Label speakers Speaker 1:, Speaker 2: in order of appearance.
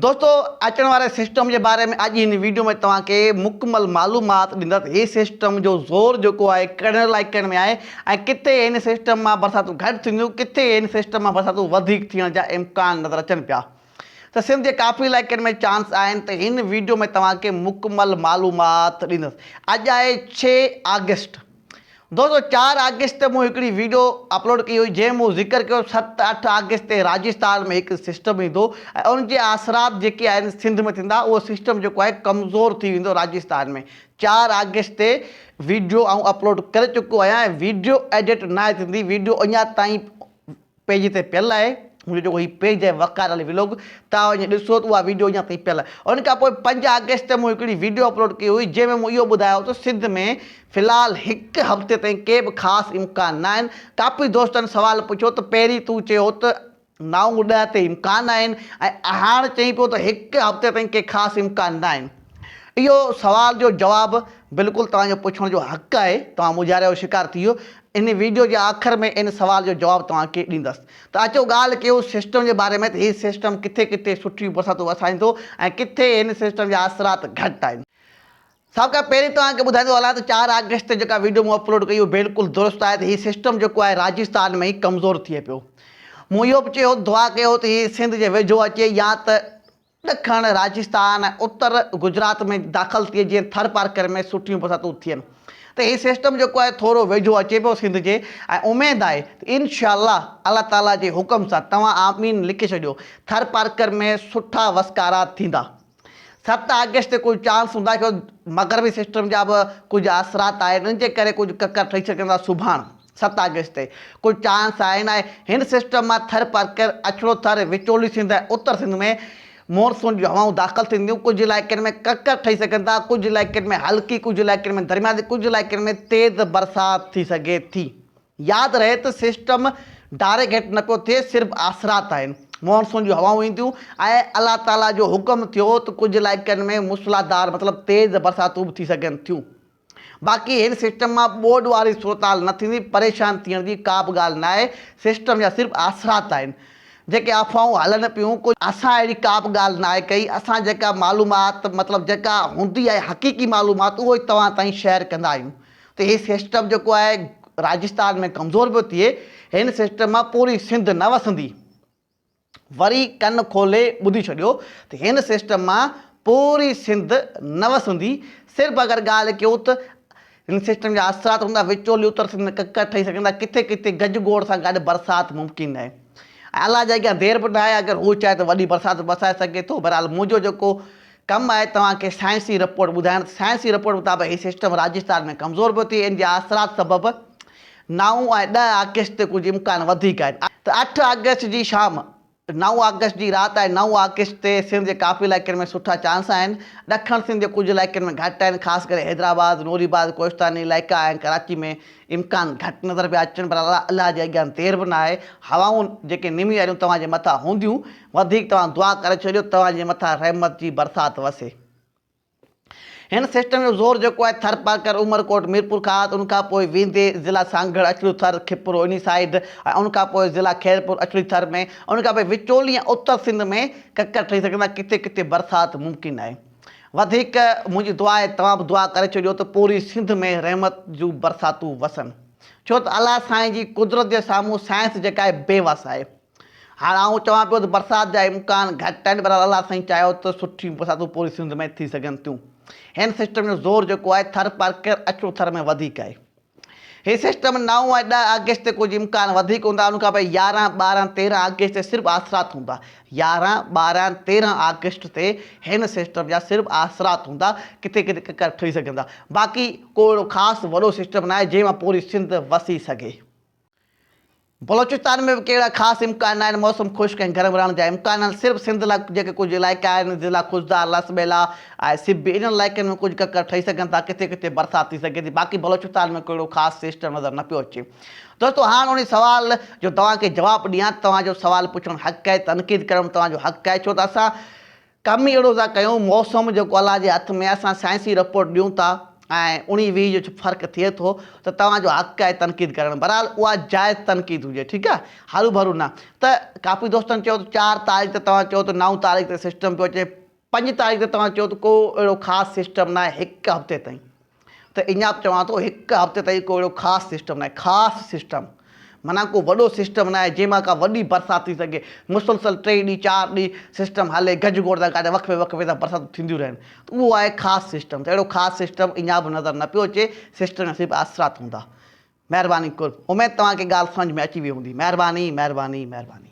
Speaker 1: دوستو اچڻ واري سسٽم جي باري ۾ اڄ هن ويڊيو ۾ توهان کي مڪمل معلومات ڏيندس هي سسٽم جو زور جيڪو آهي ڪهڙن علائقن ۾ آهي ۽ ڪٿي هن سسٽم مان برساتون گهٽ ٿينديون ڪٿي هن سسٽم مان برساتون وڌيڪ ٿيڻ جا امڪان نظر اچن پيا ته سنڌ جي ڪافي علائقن ۾ چانس آهن ته هن ويڊيو ۾ توهان کي مڪمل معلومات ڏيندس اڄ آهي ڇهه آگسٽ دوستو چار آگسٽ تي مون هڪڙي ويڊيو اپلوڊ ڪئي هئي جنهن مون ذڪر ڪيو ست اٺ آگسٽ تي راجستان ۾ هڪ سسٽم ايندو ۽ ان جي آثرات جيڪي آهن سنڌ ۾ ٿيندا اهو سسٽم جيڪو آهي ڪمزور ٿي ويندو راجستان ۾ چار آگسٽ تي ويڊيو آئون اپلوڊ ڪري چڪو آهيان ۽ ويڊيو ايڊٽ ناهي ٿيندي ويڊيو اڃا تائين پيج تي پيل آهي منهنجو جيڪو هي پيج آهي وقار علي ولوگ توهان وڃي ڏسو ته اها ويڊيو اڃا تائين پيل آهي ان کان پوء پنج آگسٽ تي مون هڪڙي ويڊيو اپلوڊ ڪئي هئي جنهن ۾ مون اهو ٻڌايو هو ته سنڌ ۾ في الحال هڪ هفتي تائين ڪي به خاص امڪان ناهن ڪافي دوستن سوال پڇيو ته پهرين تون چيو هو ته نو ڏهه تي امڪان آهن ۽ هاڻ چئين پيو ته هڪ هفتي تائين ڪي خاص امڪان ناهن اهو سوال جو جواب بلڪل توهان جو پڇڻ جو حق آهي توهان مونجهاري جو شڪار ٿي ويو ان ويڊيو جي آخر ۾ ان سوال جو جواب توهان کي ڏيندس ته اچو ڳالهه ڪيون سسٽم جي باري ۾ ته هي سسٽم ڪٿي ڪٿي سٺيون برساتون وسائيندو ۽ ڪٿي هن سسٽم جا اثرات گهٽ آهن. سڀ کان پهرين توهان کي ٻڌائيندو هلان ته چار آگسٽ تي جيڪا ويڊيو مون اپلوڊ ڪئي اهو بلڪل درست آهي ته هي سسٽم جيڪو آهي راجستان ۾ ئي ڪمزور ٿئي پيو مون اهو به چيو هو ته دعا ڪيو هو ته هي سنڌ جي ويجهو اچي يا ته ڏکڻ راجستان ۽ اتر گجرات ۾ داخل ٿئي جيئن ٿر پارڪر ۾ سٺيون برساتون ٿين ته هي سسٽم جيڪو آهي ٿورو ويجهو اچي پيو سنڌ جي ۽ اميد آهي ته انشاء الله الله تعالي جي حڪم سان توهان آمين لکي ڇڏيو ٿر پارڪر ۾ سٺا وسڪارا ٿيندا ست آگسٽ تي ڪجهه چانس هوندا ڇو مغربي سسٽم جا به ڪجهه اثرات آهن ان جي ڪري ڪجهه ڪڪر ٺهي سگهندا سڀاڻ ست آگسٽ تي ڪل چانس آهي نه آهي هن سسٽم مان ٿر پرڪر، اڇڙو ٿر، وچولي سنڌ ۽ اتر سنڌ ۾ مون سون جون هوائون داخل ٿينديون ڪجهه علائقن ۾ ڪڪر ٺهي سگهن ٿا ڪجهه علائقن ۾ هلڪي ڪجهه علائقن ۾ درمياني ڪجهه علائقن ۾ تيز برسات ٿي سگهي ٿي ياد رهي ته سسٽم ڊائريڪ هيٺ نه پيو ٿئي صرف آسرات آهن مون سون جون هوائون اينديون ۽ الله تعالي جو حڪم ٿيو ته ڪجهه علائقن ۾ موسلادار مطلب تيز برساتون به ٿي سگهن ٿيون. باقي هن سسٽم مان ٻوڏ واري صورتحال نه ٿيندي، پريشان ٿيڻ جي ڪا به ڳالهه ناهي، سسٽم جا صرف آسرات آهن. جيڪي افواهون هلن پيون، ڪجهه اسان اهڙي ڪا به ڳالهه ناهي ڪئي، اسان جيڪا معلومات مطلب جيڪا هوندي آهي حقيقي معلومات اهو ئي توهان تائين شيئر ڪندا آهيون ته هي سسٽم جيڪو آهي راجسٿان ۾ ڪمزور به ٿئي، هن سسٽم مان پوري سنڌ نه وسندي. وري ڪن کولي ٻڌي ڇڏيو ته هن سسٽم مان پوري سنڌ نه وسندي، صرف اگر ڳالهه ڪيون ته هن سسٽم جا اثرات هوندا وچولي اتر سنڌ ۾ ڪڪر ٺهي سگهن ٿا، ڪٿي ڪٿي گج گوڙ سان گڏ برسات ممڪن آهي ۽ الله جي اڳيان دير به ناهي، اگر هو چاهي ته وڏي برسات به وسائي سگهي ٿو، بهرحال منهنجو جيڪو ڪم آهي توهان کي سائنسي رپورٽ ٻڌائڻ ته سائنسي رپورٽ مطابق هي سسٽم راجسٿان ۾ ڪمزور پيو ٿئي ان جي اثرات سبب نائون ۽ ڏهه آگسٽ تي ڪجهه امڪان وڌيڪ آهن ته اٺ آگسٽ جي شام نو آگسٽ جي رات ۽ نو آگسٽ تي سنڌ جي ڪافي علائقن ۾ سٺا چانس آهن ڏکڻ سنڌ جي ڪجهه علائقن ۾ گهٽ آهن خاص ڪري حيدرآباد نوري آباد ڪوهستاني علائقا ۽ ڪراچي ۾ امڪان گهٽ نظر پيا اچن پر الله جي اڳيان دير به ناهي هوائون جيڪي نمي واريون توهان جي مٿان هونديون وڌيڪ توهان دعا ڪري ڇڏيو توهان جي مٿان رحمت جي برسات وسي هن سسٽم جو زور جيڪو آهي ٿرپارڪر عمرڪوٽ ميرپورخاص ان کان پوء ويندي ضلع سانگهڙ اڇڙو ٿر کپرو انهي سائيڊ ۽ ان کان پوء ضلع خيرپور اڇڙي ٿر ۾ ان کان پوء وچولي ۽ اتر سنڌ ۾ ڪڪر ٺهي سگهن ٿا ڪٿي ڪٿي برسات ممڪن آهي وڌيڪ منهنجي دعا آهي توهان به دعا ڪري ڇڏيو ته پوري سنڌ ۾ رحمت جون برساتون وسن ڇو ته الله سائين جي قدرت جي سامهون سائنس جيڪا آهي بي وس آهي. هاڻ آئون چوان پيو ته برسات جا امڪان گهٽ آهن بهرحال الله سائين چاهيو ته سٺيون برساتون پوري سنڌ ۾ ٿي سگهن ٿيون هن سسٽم جو زور جيڪو آهي ٿر پارڪر اچو ٿر ۾ وڌيڪ آهي هي سسٽم نو ۽ ڏهه آگسٽ تي ڪجهه امڪان وڌيڪ هوندا ان کان پوء يارهن ٻارهن تيرهن آگسٽ تي صرف آسرات هوندا يارهن ٻارهن تيرهن آگسٽ تي هن سسٽم جا صرف آسرات هوندا ڪٿي ڪٿي ڪڪر ٺهي سگهندا باقي ڪو اهڙو خاص وڏو سسٽم ناهي جنهن مان پوري سنڌ وسي سگهي. بلوچستان ۾ به ڪهڙا خاص امڪان ناهن، موسم خشڪ ۽ گرم رهڻ جا امڪان آهن، صرف سنڌ لاء جيڪي ڪجهه علائقا آهن، ضلعا خضدار، لس ٻيلا ۽ سبي، انهن علائقن ۾ ڪجهه ڪڪر ٺهي سگهن ٿا، ڪٿي ڪٿي برسات ٿي سگهي ٿي، باقي بلوچستان ۾ ڪهڙو خاص سسٽم نظر نه پيو اچي. دوستو هاڻ انهي سوال جو توهان کي جواب ڏيان ته توهان جو سوال پڇڻ حق آهي، تنقيد ڪرڻ به توهان جو حق آهي، ڇو ته اسان. ڪم ئي اهڙو ٿا ڪيون، موسم جيڪو الله جي هٿ ۾ آهي، اسان سائنسي رپورٽ ڏيون ٿا ۽ اڻي ويهي جو ڇو فرق ٿئي ٿو ته توهان جو حق آهي تنقيد ڪرڻ، بهرحال اها جائز تنقيد هجي ٺيڪ آهي هروڀرو نه ته ڪافي دوستن چيو ته چار تاريخ تي توهان چئو ته نو تاريخ تي سسٽم پيو اچي پنج تاريخ تي توهان چئو ته ڪو اهڙو خاص سسٽم ناهي هڪ هفتي تائين. ته اڃا چوان ٿو هڪ هفتي تائين ڪو اهڙو خاص سسٽم ناهي، خاص سسٽم معنيٰ ڪو وڏو سسٽم ناهي جنهن مان ڪا وڏي برسات ٿي سگهي، مسلسل ٽي ڏينهن چار ڏينهن سسٽم هلي گج گوڙ سان گڏ وقفي وقفي سان برساتون ٿينديون رهن ته اهو آهي خاص سسٽم ته اهڙو خاص سسٽم اڃا به نظر نه پيو اچي سسٽم جا صرف اثرات هوندا مهرباني قرب اميد توهان کي ڳالهه سمجهه ۾ اچي وئي هوندي مهرباني مهرباني مهرباني.